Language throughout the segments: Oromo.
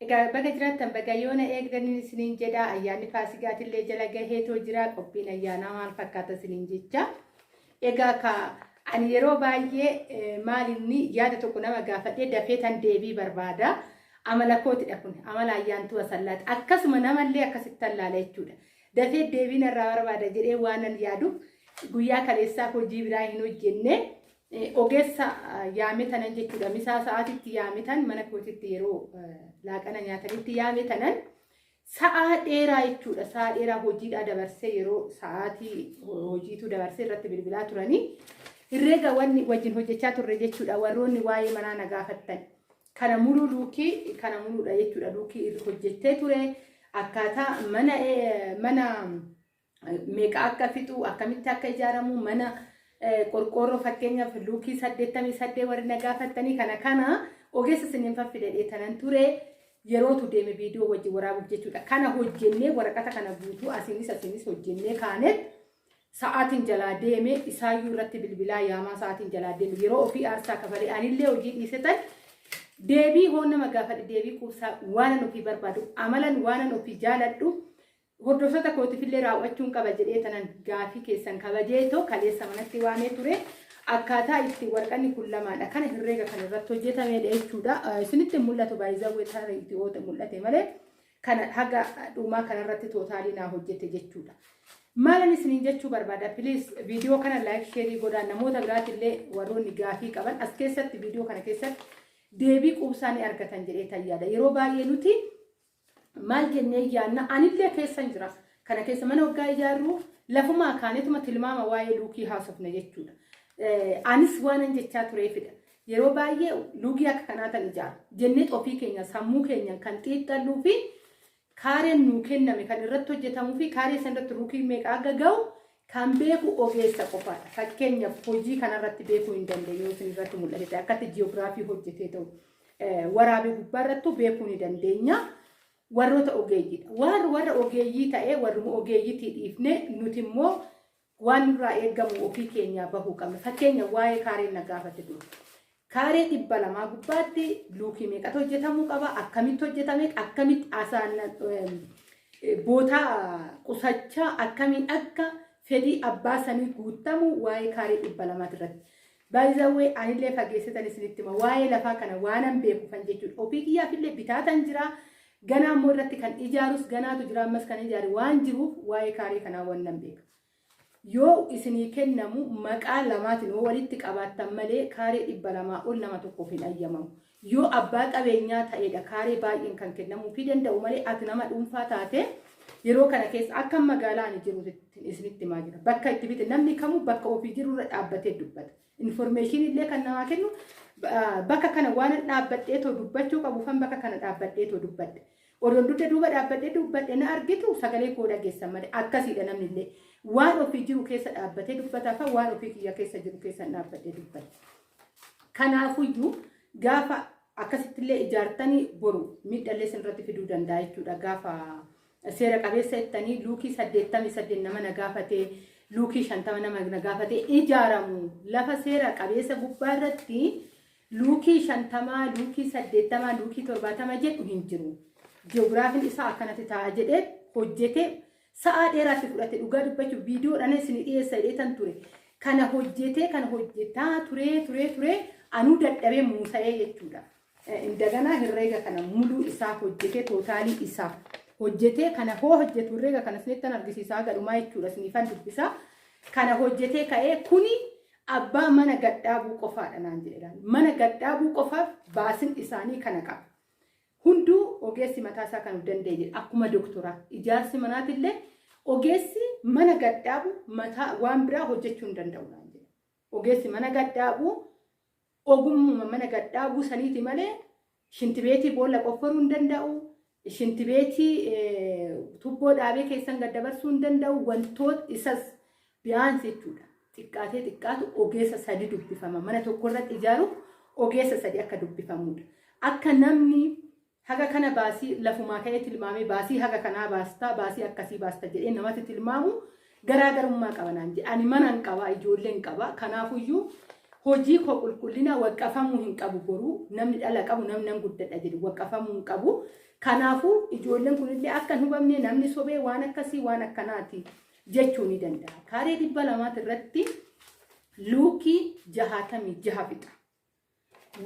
Egaa baga jiraattan baga yoona eegdanin isiniin jedha ayyaanni faasigaatillee jala gaheetoo jira qophiin ayyaanaa maal fakkaata isiniin jecha egaa ka ani yeroo baay'ee maalinni yaada tokko nama gaafadhee dafee tan deebii barbaada amala kootidha kun amala ayyaantuu asallaati akkasuma namallee akkasitti allaala jechuudha dafee deebiin irraa barbaada jedhee waanan yaaduuf guyyaa kaleessaaf hojii biraa hin hojjenne Eh, Ogeessa ah, yaame tanan jechuudha. Misaa sa'aatitti yaame tan mana kootitti yeroo eh, laaqana nyaatanitti yaame tanan sa'aa dheeraa jechuudha. Sa'aa dheeraa hojiidhaa dabarsee yeroo sa'aatii ho- hojiitu dabarsee irratti bilbilaa turanii herreega wanni wajjin hojjechaa turre jechuudha. Warroonni waa'ee manaa na gaafattan. Kana muluu luukii kana muluudha jechuudha. Luukii irra hojjettee ture akkaataa mana eh, mana meeqa akka fixu akkamitti akka ijaaramu mana qorqoorroo fakkeenyaaf luukii saddeettamii saddee warri na gaafattanii kana kana ogeessa isiniin faffide dheetanan ture yerootu deeme viidiyoo wajjin waraabuuf jechuudha. Kana hojjennee waraqata kana guutuu asiinis asiinis hojjennee kaanet sa'aatiin jalaa deeme isaayyuu irratti bilbilaa yaamaa sa'aatiin jalaa deeme yeroo ofii aarsaa kafalee anillee hojii dhiisetan deebii hoo nama gaafadhe deebii quubsaa waanan ofii barbaadu amalan waanan ofii jaaladhu Hordoftoota kootifillee raaw'achuun qaba jedhee tanan gaafii keessan kabajeetoo kaleessa manatti waamee ture. Akkaataa itti warqanni kun lamaadha. Kana herreega kan irratti hojjetameedha jechuudha. Isinitti mul'atu baay'izawwee taara itti oote mul'ate malee kana haga dhumaa kanarratti tootaalii naa hojjete jechuudha. Maalan isiniin jechuu barbaada piliis viidiyoo kana laayik sheerii godhaa namoota biraatillee warroonni gaafii qaban as keessatti viidiyoo kana keessatti deebii quubsaa ni argatan jedhee tayyaadha. Yeroo baay'ee nuti Maal jennee yaanna anillee keessan jira. Kana keessa mana waggaa ijaarru lafumaa kaanetuma tilmaama waa'ee luukii haasofna jechuudha. Anis waanan jechaa tureefidha. Yeroo baay'ee luukii akka kanaa tan ijaaru jennee ofii keenya sammuu keenyaan kan xiixxalluu fi kaareen nuu kenname kan irratti hojjetamuu fi kaaree san irratti luukii meeqa akka ga'u kan beeku ogeessa qofaadha. Fakkeenyaaf hojii kanarratti beekuu hin dandeenye yoo isin irratti mul'ate akkatti ji'oogiraafii hojjetee ta'u. waraabee gubbaa irrattuu beekuu ni dandeenya. Warroota ogeeyyiidha. Warri warra ogeeyyii ta'ee warruma ogeeyyitii dhiifnee nuti immoo waan nurraa eegamu ofii keenyaa bahuu qabna. Fakkeenya waa'ee kaareen na gaafate dura. Kaaree dhibba lamaa gubbaatti luukii meeqatu hojjetamuu qaba? Akkamitti hojjetame? Akkamitti asaan bootaa qusachaa akkamiin akka fedhii abbaa sanii guuttamu waa'ee kaaree dhibba lamaati irratti. By the way anillee fageessitan isinitti hima waa'ee lafaa kana waanan beekufan jechuudha ofii kiyyaafillee bitaatan jira ganaa immoo irratti kan ijaarus ganaatu jira ammas kan ijaare waan jiruuf waa'ee kaaree kanaa wannan beeka yoo isinii kennamu maqaa lamaatiin yoo walitti qabaattan malee kaaree dhibba lamaa ol nama tokkoof hin ayyamamu Yoo abbaa qabeenyaa ta'eedha kaaree baay'een kan kennamuufii danda'u malee ati nama dhuunfaa taatee yeroo kana keessa akka magaalaa ani jiru isinitti himaa jira. Bakka itti bite namni kamuu bakka ofii jiru irra dhaabbatee dubbata. Informeeshinii illee kan namaa kennu bakka kana waan dhaabbadhee too dubbachuu qabu fan bakka kana dhaabbadhee too dubbadhe. Odoon dugda duuba dhaabbadhee dubbadhe na argitu sagalee koo dhageessan malee akkasiidha namni illee. Waan ofii jiru keessa dhaabbatee dubbata fa waan ofii kiyya keessa jiru keessa dhaabbadhee dubbadhe. Kanaafuyyuu gaafa akkasittillee ijaartanii boru miidhallee sinirratti fiduu danda'a jechuudha. Gaafa seera qabeessa jettanii luukii saddeettamii saddeet nama na gaafatee luukii shantama nama na gaafatee ijaaramu lafa seera qabeessa gubbaa irratti luukii shantamaa luukii saddeettamaa luukii torbaatama jedhu hin jiru. Ji'oogiraafiin isaa akkanatti ta'a jedhee hojjetee Sa'aa dheeraa si fudhate dhugaa dubbachuuf viidiyoodhaan isin dhiyeessa jedheetan ture. Kana hojjetee kana hojjetaa turee turee turee anuu dadhabee muusa'ee jechuudha. Indaganaa herreega kana muluu isaa hojjetee tootaalii isaa hojjetee kana hoo hojjetu herreega kana isinittan argisiisaa gadhumaa jechuudha isinifan dubbisaa. Kana hojjetee ka'ee kuni abbaa mana gadhaabuu qofaadha naan jedheedhaan. Mana gadhaabuu qofaaf baasin isaanii kana qaba. Hunduu ogeessi mataa isaa kan of danda'e jira. Akkuma doktoraa ijaarsi manaatillee ogeessi mana gaddaabu mataa waan biraa hojjechuu hin danda'u naan jedhe. Ogeessi mana gaddaabu ogummuma mana gaddaabuu saniiti malee shintibeetii boolla qofforuu hin danda'u. Shintibeetii tubboo dhaabee keessan gaddabarsuu hin danda'u. Wantoota isas Biyaansi jechuudha. Xiqqaatee xiqqaatu ogeessa sadi dubbifama. Mana tokko irratti ijaaruuf ogeessa sadi akka dubbifamuudha. Akka namni haga kana baasii lafumaa ka'ee tilmaamee baasii haga kanaa baastaa baasii akkasii baasta jedhee namatti tilmaamu garaagarummaa qaba naan jedhe. Ani manan qaba ijoolleen qaba kanaafuyyuu hojii koo qulqullina waqqafamuu hin qabu boruu namni dhala qabu namni nan guddadha jedhu waqqafamuu hin qabu. Kanaafuu ijoolleen kunillee akka hin hubamne namni sobee waan akkasii waan akkanaati. jechuu ni danda'a. Kaaree dhibba lamaati irratti luukii jahaatamii jaha fixa.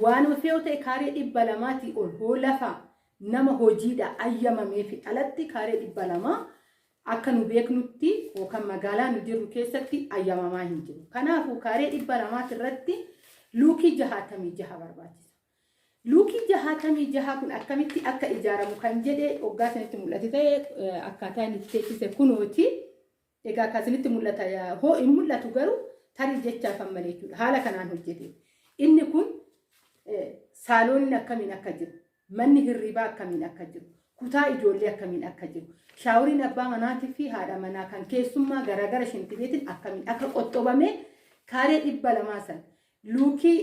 Waan ofee ta'e kaaree dhibba lamaatii ol hoo lafa nama hojiidha ayyamamee fi alatti kaaree dhibba lamaa akka nu beeknutti yookaan magaalaa nu jirru keessatti ayyamamaa hin jiru. Kanaafuu kaaree dhibba lamaati irratti luukii jahaatamii jaha barbaachisa. Luukii 66 kun akkamitti akka ijaaramu kan jedhe oggaa isinitti mul'ate ta'e akkaataa inni itti teechise kunooti. Egaa akka isinitti mul'ata hoo hin mul'atu garuu tarii jechaa kan malee jechuudha. Haala kanaan hojjete. Inni kun saalooniin akkamiin akka jiru, manni hirribaa akkamiin akka jiru, kutaa ijoollee akkamiin akka jiru, shaaworiin abbaa manaatii fi haadha manaa kan keessummaa garaagara shintibeetiin akkamiin akka qoxxobamee kaaree dhibba lamaa sana Luukii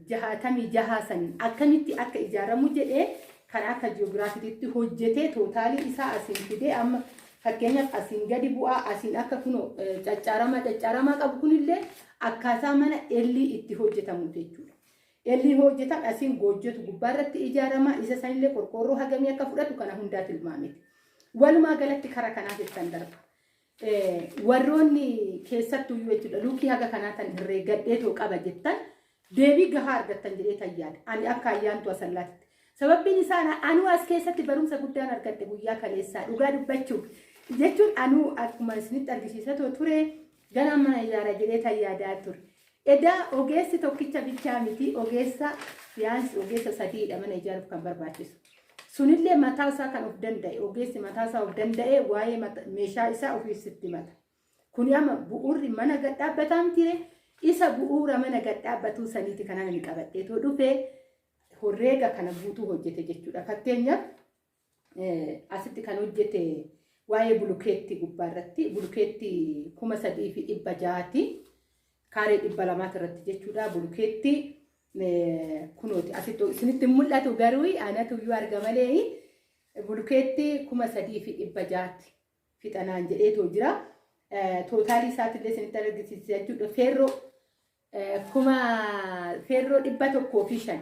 66 saniin akkamitti akka ijaaramu jedhee karaa akka ji'oogiraafititti hojjetee tootaalii isaa asiin fidee amma fakkeenyaaf asiin gadi bu'aa asiin akka kunoo caccaaramaa caccaaramaa qabu kunillee akkaataa mana ellii itti hojjetamu jechuudha. Ellii hojjetan asiin goojjotu gubbaarratti ijaarama isa sanillee qorqoorroo hagamii akka fudhatu kana hundaa tilmaamiti. Walumaa galatti karaa kanaaf ittiin darba. warroonni keessattuu iyyuu jechuudha luukii haga kanaa tan herreegadhee too qaba jettan deebii gahaa argattan jedhee tayyaadha. Ani akka ayyaantu asallaatti. Sababbiin isaa na- anuu as keessatti barumsa guddaan argadhe guyyaa kaleessaa dhugaa dubbachuuf jechuun anuu akkuma isinitti argisiisa too ture ganaan mana ijaara jedhee tayyaadaa ture. Edaa ogeessi tokkicha bichaa miti ogeessa biyaansi ogeessa sadiidha mana ijaaruuf kan barbaachisu. Sunillee mataa isaa kan of danda'e ogeessi mataa isaa of danda'e waa'ee meeshaa isaa ofiif sitti mata. Kuni amma bu'uurri mana gad dhaabbataa mitiire isa bu'uura mana gad dhaabbatuu saniiti kanaan inni qabadheetoo dhufe horreega kana guutuu hojjete jechuudha. Fakkeenyaaf asitti kan hojjete waa'ee bulukeetti gubbaa irratti bulukeetti kuma sadii fi dhibba jaati kaaree dhibba lamaati irratti jechuudha bulukeetti kunooti asitti isinitti mul'atu garuu anatu iyyuu arga malee bulukeetti kuma sadii fi dhibba jaati fixanaan jedheetoo jira tootaalii isaatti illee isinitti argisiisa jechuudha feerroo Kuma feerroo dhibba tokkoo fi shan.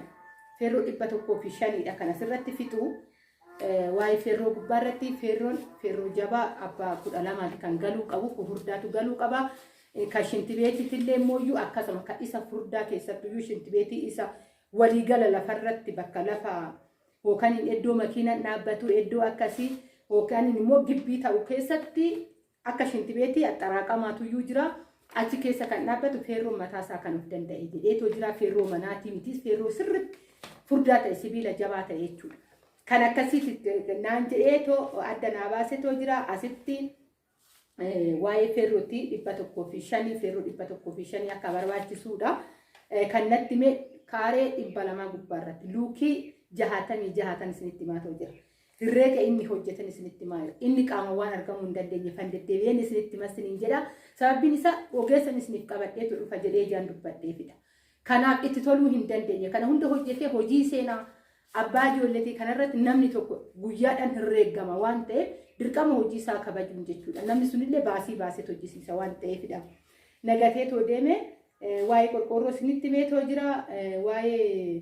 Feerroo dhibba tokkoo fi shaniidha kan asirratti fixu. Waa'ee feerroo gubbaa irratti feerroon feerroo jabaa abbaa kudha lamaati kan galuu qabu kun furdaatu galuu qaba. Kan shintibeetiitti illee immoo iyyuu akkasuma kan isa furdaa keessattuu iyyuu shintibeetii isa waliigala lafarratti bakka lafa yookaan iddoo makiinaan dhaabbatu iddoo akkasii yookaan immoo gibbii ta'u keessatti Akka shintibeetii axxaraaqamaatu iyyuu jira. Achi keessa kan dhaabbatu feerroon mataa isaa kan of danda'e jedheetoo jira. Feerroo manaatii mitiis feerroo sirriitti furdaa ta'e sibiila jabaa ta'e jechuudha. Kan akkasiiti naan jedheetoo adda naa baasetoo jira. Asitti waa'ee feerrootti dhibba tokkoo fi shanii feerroo dhibba tokkoo fi shanii akka barbaachisuudha. Kan natti mee kaaree dhibba lamaa gubbaa irratti luukii jahaatamii jahatan isinitti himaatoo jira. Herreega inni hojjetan isinitti himaa jira. Inni qaama waan argamuu hin dandeenye kan deddeebi'een isinitti himas isiniin jedha. Sababiin isaa ogeessan isiniif qabadheetu dhufa jedhee ijaan dubbadheefidha. Kanaaf itti toluu hin dandeenye. Kana hunda hojjetee hojii seenaa abbaa ijoolleetii kanarratti namni tokko guyyaadhaan herreegama waan ta'eef dirqama hojii isaa kabajuun jechuudha. Namni sunillee baasii baasee hojjisiisa waan ta'eefidha. Nagatee too deemee waa'ee qorqoorroo isinitti meetoo jira. Waa'ee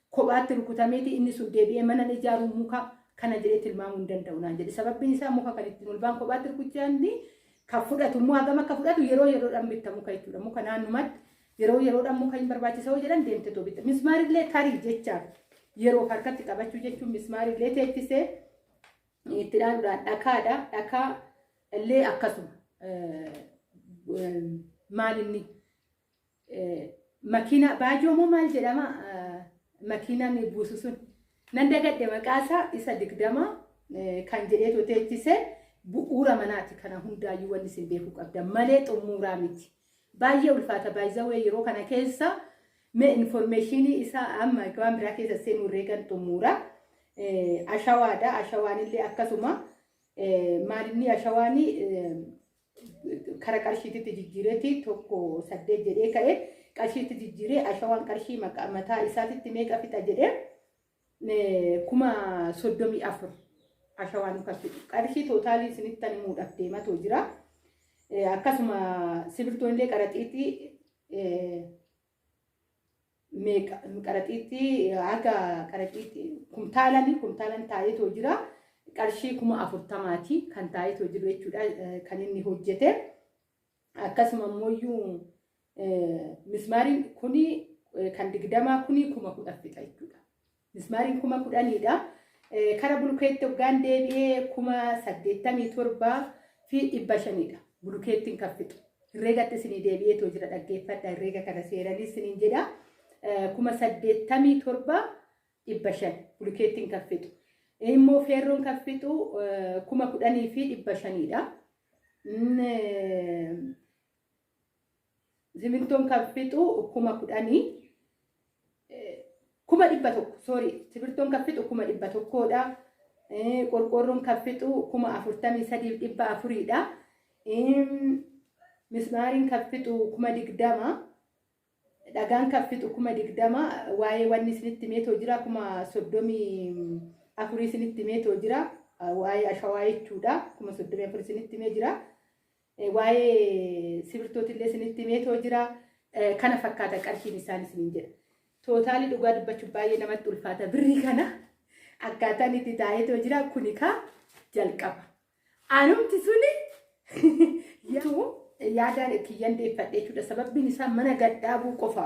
Kophaatti rukutameeti inni sun deebi'ee manan ijaaru muka kana jedhee tilmaamuu hin danda'u naan jedhe. Sababbiin isaa muka kan ittiin ol ba'an kophaatti rukuchaanni kan fudhatu immoo hagam akka fudhatu yeroo yeroodhaan bitta muka jechuudha. Muka naannumatti yeroo yeroodhaan muka hin barbaachisa yoo jedhan deemte too bitta. Mismaarillee tarii jechaaf yeroof harkatti qabachuu jechuun mismaarillee teechisee itti dhaaluudhaan dhakaadha. Dhakaa illee akkasuma maal inni Makiinaa baajoo moo maal jedhama makiinaan buusu sun nan dagadhe maqaasaa isa digdama kan jedhee toteechise bu'uura manaati kana hundaayyuu wanni isin beekuu qabda malee xumuuraa miti. Baay'ee ulfaata baay'izawee yeroo kana keessa mee informeeshinii isaa amma waan biraa keessa seenuu reegan xumuura. Ashawaadha ashawaanillee akkasuma maalinni ashawaanii kara qarshiititti jijjiireeti tokko saddeet jedhee ka'e qarshiitti jijjiiree ashawaan qarshii maqa- mataa isaatitti meeqa fixa jedhee eh, kuma soddomii afur ashawaan kan fixu qarshii tootaalii isinitti ani muudhaaf deematoo jira Eh, akkasuma sibiltoon illee qaraxiitii eh, meeqa qaraxiitti haga qaraxiitti kumtaalani kumtaalan taa'eetoo jira qarshii kuma afurtamaati kan taa'eetoo jiru jechuudha eh, kan inni hojjete akkasuma immoo iyyuu eh, mismaariin kuni eh, kan digdamaa kuni kuma kudha fixa jechuudha Mismaariin kuma kudhaniidha. Kara bulukeetti hoggaan deebi'ee kuma saddeettamii torbaa fi dhibba shaniidha. Bulukeettiin kan fixu. Herreegatti isinii deebi'ee too jira dhaggeeffadha. Herreega kana seeranii isiniin jedha. Kuma saddeettamii torbaa dhibba shan bulukeettiin kan fixu. Immoo feerroon kan fixu kuma kudhanii fi dhibba shaniidha. Simintoon kan fixu kuma kudhanii kuma dhibba tokko sorry simintoon kan fixu kuma dhibba tokkoodha. Qorqoorroon kan fixu kuma afurtamii sadiif dhibba afuriidha. Mismaariin kan fixu kuma digdama. Dhagaan kan fixu kuma digdama waa'ee wanni isinitti himeetoo jira kuma soddomii afurii isinitti himeetoo jira waa'ee ashawaa jechuudha kuma soddomii afur isinitti himee jira waa'ee sibirtootillee isinitti himeetoo jira kana fakkaata qarshiin isaan isiniin jedha. Tootaalii dhugaa dubbachuuf baay'ee namatti ulfaata birrii kana akkaataan itti taa'eetoo jira kuni kaa jalqaba. Anumti suni tuu yaadaan kiyyan deeffadhe jechuudha. Sababbiin isaa mana gadhaabuu qofa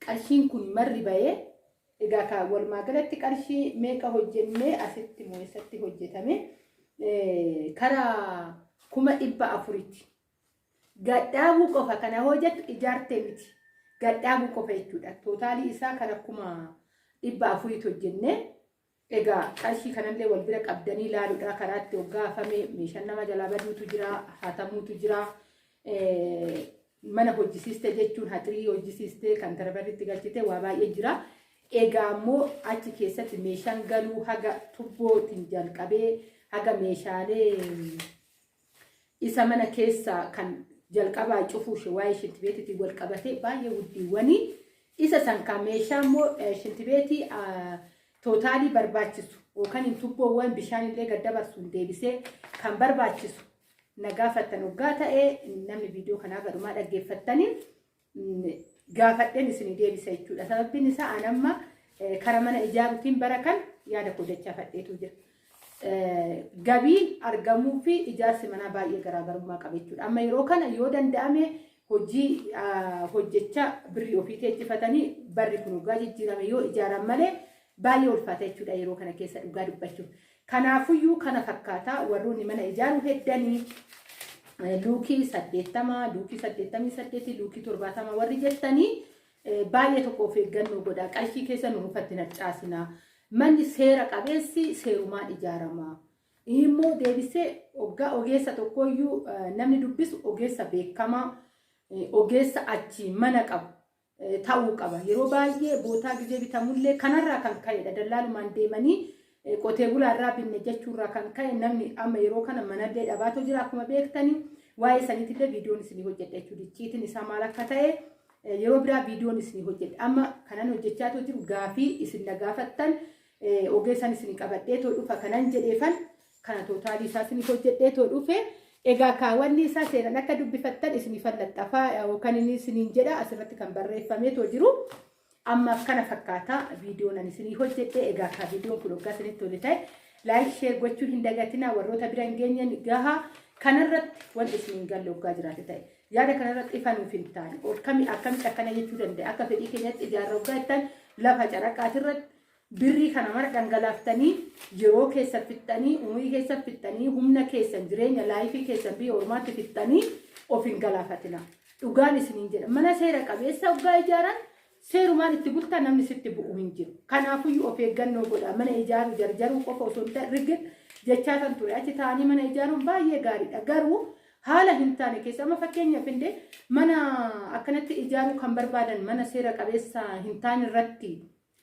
qarshiin kun marri bahee egaa ka walumaa galatti qarshii meeqa hojjennee asitti moo eessatti hojjetame kara kuma dhibba afuritti. Gadhaabuu qofa kana hojjetu ijaartee miti. Gadhaabuu qofa jechuudha. Tootaalii isaa kara kuma dhibba afuritti hojjennee Egaa qarshii kanallee wal bira qabdanii laaludhaa karaa itti hoggaa hafame meeshaan nama jalaa baduutu jira hatamuutu jira mana hojjisiiste jechuun haxirii hojjisiiste kan tarbarri itti galchite waa baay'ee jira. Egaa immoo achi keessatti meeshaan galuu haga tubbootiin jalqabee haga meeshaalee isa mana keessa kan jalqabaa cufuu ishee waa'ee shintibeetiitiin wal qabatee baay'ee guddiiwwanii isa san kan meeshaa immoo eh, shintibeetii ah, tootaalii barbaachisu yookaan hin tubboowwan bishaan illee gad dabarsuun deebisee kan barbaachisu na gaafattan oggaa ta'e namni viidiyoo kanaa gadhumaa dhaggeeffattaniif gaafadheen isinii deebisa jechuudha. Sababbiin isaa an amma kara mana ijaaruutiin bara kan yaada koo dachaafadheetu jira. Gabiin argamuu fi ijaarsi manaa baay'ee garaagarummaa qaba jechuudha. Amma yeroo kana yoo danda'ame hojii hojjechaa birrii ofii teechifatanii barri kun dhugaa jijjiirame yoo ijaaran malee baay'ee ulfaata jechuudha yeroo kana keessa dhugaa dubbachuuf. Kanaafuyyuu kana fakkaata warroonni mana ijaaru heddanii luukii saddeettama, luukii saddeettamii saddeeti, luukii torbaatama warri jettanii baay'ee tokko of eeggannoo godha. Qarshii keessa nu mukatti harcaasina. Manni seera qabeessi seerumaan ijaarama. Immoo deebisee oggaa ogeessa tokkooyyuu namni dubbisu ogeessa beekamaa, ogeessa achi mana qabu. ta'uu qaba. Yeroo baay'ee bootaa gizee bitamullee kanarraa kan ka'edha. Dallaalumaan deemanii qotee bulaarraa binne jechuurraa kan ka'e namni amma yeroo kana manallee dhabaatoo jira akkuma beektani. Waa'ee saniitillee viidiyoon isinii hojjedha jechuudha. Icciitiin isaa maal akka ta'e yeroo biraa viidiyoon isinii hojjedha. Amma kanan hojjechaa too jiru gaafii isin na gaafattan ogeessan isinii qabadhee too dhufa kanan jedheefan kana tootaalii isaa isiniif hojjedhee too dhufe egaa kaawwanni isaa seeran akka dubbifattan isiniif allaxxafaa yookaan inni isiniin jedha asirratti kan barreeffamee too jiru ammaaf kana fakkaata viidiyoon ani isinii hojjedhe egaa kaa viidiyoon kun hoggaa isinitti tole ta'e laayik sheer gochuu hin dagatinaa warroota bira hin geenyen gaha kanarratti wanti isiniin galle hoggaa jiraate ta'e yaada kanarratti ifa nuuf hin taane akkamitti akkana jechuu danda'a akka fedhii keenyatti ijaarra hoggaa jettan lafa caraqaatirratti Birrii kana mara dhangalaaftanii yeroo keessan fixxanii umurii keessan fixxanii humna keessan jireenya laayifii keessan biyya ormaatti fixxanii of hin galaafatina. Dhugaan isiniin jedha. Mana seera qabeessa hoggaa ijaaran seerumaan itti bultaa namni sitti bu'u hin jiru. Kanaafuyyuu of eeggannoo godha. Mana ijaaruu jarjaruu qofa osoo hin ta'in rigid jechaa kan ture. Achi taa'anii mana ijaaruun baay'ee gaariidha. Garuu haala hin taane keessa amma fakkeenyaaf illee mana akkanatti ijaaruu kan barbaadan mana seera qabeessa hin taane irratti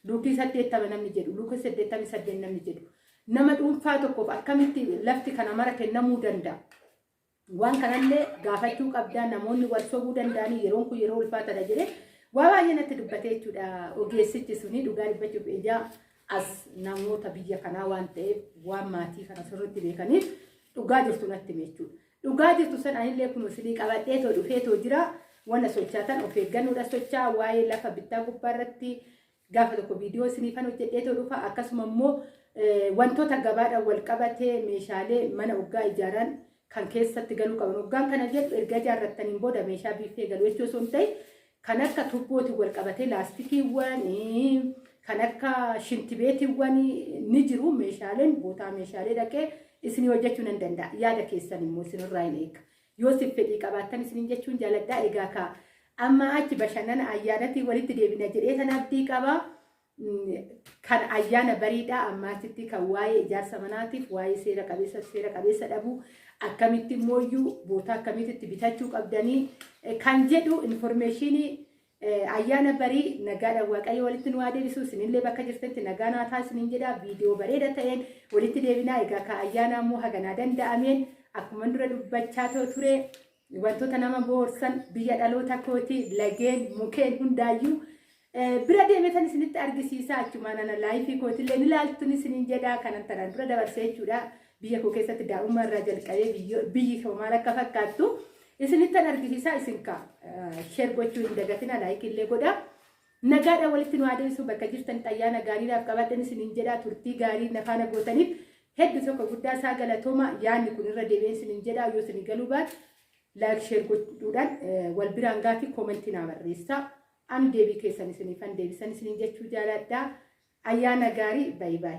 Luukii 80 namni jedhu, Luukii 88 namni jedhu. Nama dhuunfaa tokkoof akkamitti lafti kana mara kennamuu danda'a? Waan kanallee gaafachuu qabdaa namoonni wal sobuu danda'anii yeroon kun yeroo ulfaatadha jedhee waa baay'ee natti dubbatee jechuudha. Ogeessichi suni dhugaa dubbachuuf ijaa as namoota biyya kanaa waan ta'eef waan maatii kana sirriitti beekaniif dhugaa jirtu natti hime jechuudha. Dhugaa jirtu san anillee kun isinii qabadhee too dhufee too jira wanna sochaatan of eeggannoodha socha waa'ee lafa bittaa gubbaa irratti gaafa tokko viidiyoo isiniifan hojjedhee too dhufa akkasuma immoo wantoota gabaadhaan wal qabatee meeshaalee mana oggaa ijaaraan kan keessatti galuu qaban oggaan kana jedhu erga ijaarrattaniin booda meeshaa biiffee galu jechuu osoo hin ta'in kan akka tubbootiin wal qabatee laastikiiwwan kan akka shintibeetiiwwan ni jiru meeshaaleen bootaa meeshaalee dhaqee isinii hojjechuu nan danda'a yaada keessan immoo isinirraa hin eega yoo siif fedhii qabaattan isiniin jechuun jaaladhaa egaa kaa amma achi bashannana ayyaanatii walitti deebina jedhee san abdii qabaa kan ayyaana bariidhaa ammaatitti kan waa'ee ijaarsa manaatiif waa'ee seera qabeessa seera qabeessa dhabuu akkamitti immoo iyyuu bootaa akkamitti itti bitachuu qabdanii eh, kan jedhu informeeshinii eh, ayyaana barii nagaadhaan waaqayyo walitti nu haa deebisu isinillee bakka jirtanitti nagaa naa ta'a isinin jedha viidiyoo bareeda ta'een walitti deebinaa egaa ka ayyaana immoo haganaa danda'ameen akkuman dura dubbachaa too ture Wantoota nama boorsan biyya dhaloota kootii lageen mukeen hundaayyuu bira deemetan isinitti argisiisaa achumaan ana laayifii kootillee ni laaltun isiniin jedhaa kanan tanaan dura dabarsee jechuudha. Biyya koo keessatti daa'ummaa irraa jalqabee biyyi koo maal akka fakkaattu isinittan argisiisaa isin kaa sheer gochuu hin dagatina laayikiillee godhaa. Nagaadhaan walitti nu haa deebisu bakka jirtanitti ayyaana gaarii naaf qabaadhan isiniin jedha turtii gaarii na faana gootaniif heddu tokko guddaa isaa galatooma yaanni kun irra deebi'een isiniin jedha yoo isin galuu baate laayik sheer gochuudhaan wal biraan gaatii koomentii naa barreessaa an deebii keessan isiniifan deebisan isiniin jechuu jaaladha ayyaana gaarii bayi bayi.